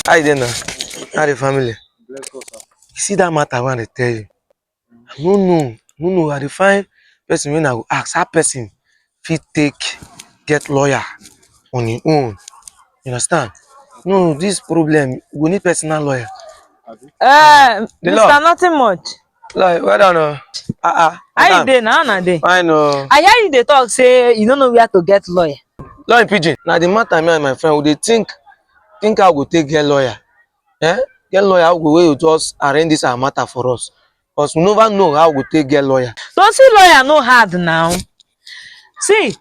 How you dey now? How the family? Bless God, sir. You see that matter when I tell you. I no know. No know. I dey find person when I go ask how person fit take get lawyer on his own. You understand? No, this problem we need personal lawyer. Abi? Eh, The Mr. law. Nothing much. Like, well done. Uh, uh, how you dey now? How dey? Fine. Uh. I hear you dey talk say you don't know where to get lawyer. Lawyer pidgin. Now the matter me and my friend we dey think think how we go take get lawyer. Eh? Get lawyer how we go wey just arrange this our matter for us. Because we never know how we go take get lawyer. So see lawyer no hard now. See,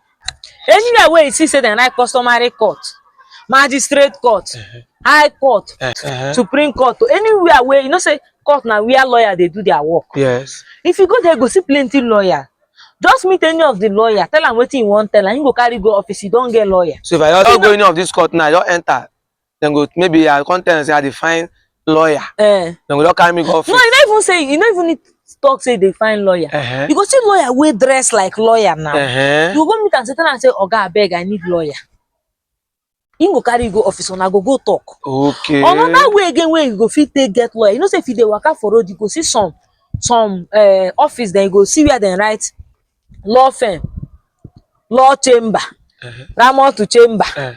anywhere where you see say dem write customary court, magistrate court, high court, Uh-huh. supreme court, or anywhere where you know say court na where lawyer dey do their work. Yes. If you go there, you go see plenty lawyer. Just meet any of the lawyer, tell am wetin you wan tell am, you go carry go office, you don get lawyer. So if I just go any of this court now, I just enter. dem go maybe i come tell dem say i dey find lawyer eh. dem go don carry me go office. no you no even say you no even need talk say they find lawyer uh -huh. you go see lawyer wey dress like lawyer now uh -huh. you go meet am say tell am say oga abeg i need lawyer him go carry you go office una go go talk okay another way again wey you go fit take get lawyer you know say if you dey waka for road you go see some some uh, office then you go see where dem write law firm law chamber uh -huh. ramon to chamber uh -huh.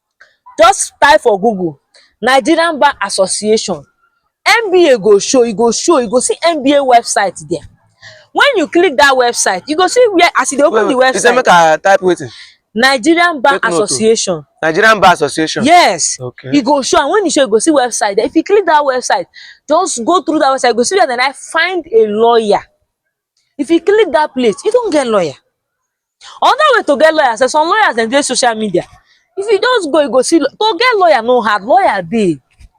Just type for google Nigerian bar association MBA go show e go show you go see MBA website there when you click that website you go see where as you dey open the website. You say make I type wetin? Nigerian bar Take association. Note. Nigerian bar association. Yes. Okay. You go show and when you show you go see website there if you click that website just go through that website you go see where then I find a lawyer If you click that place, you don't get lawyer. Another way to get lawyer, say some lawyers dem dey social media. If you just go, you go see to get lawyer no hard. Lawyer dey.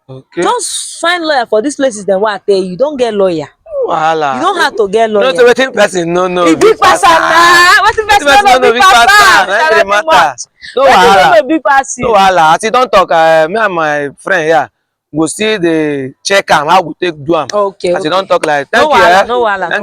Okay. Just find lawyer for these places dem wey I tell you. You don get lawyer. Wahala. You don't have to get lawyer. No, so wetin person no know. E big pass am na. Wetin person person no no know big pass am. na Tell the them matter. much. No Wetin no wahala. know big pass you. No wahala. As you don talk, uh, me and my friend here go still dey check am how we take do am. Okay. As you okay. don talk like, thank no you. wahala, eh. no wahala. Thank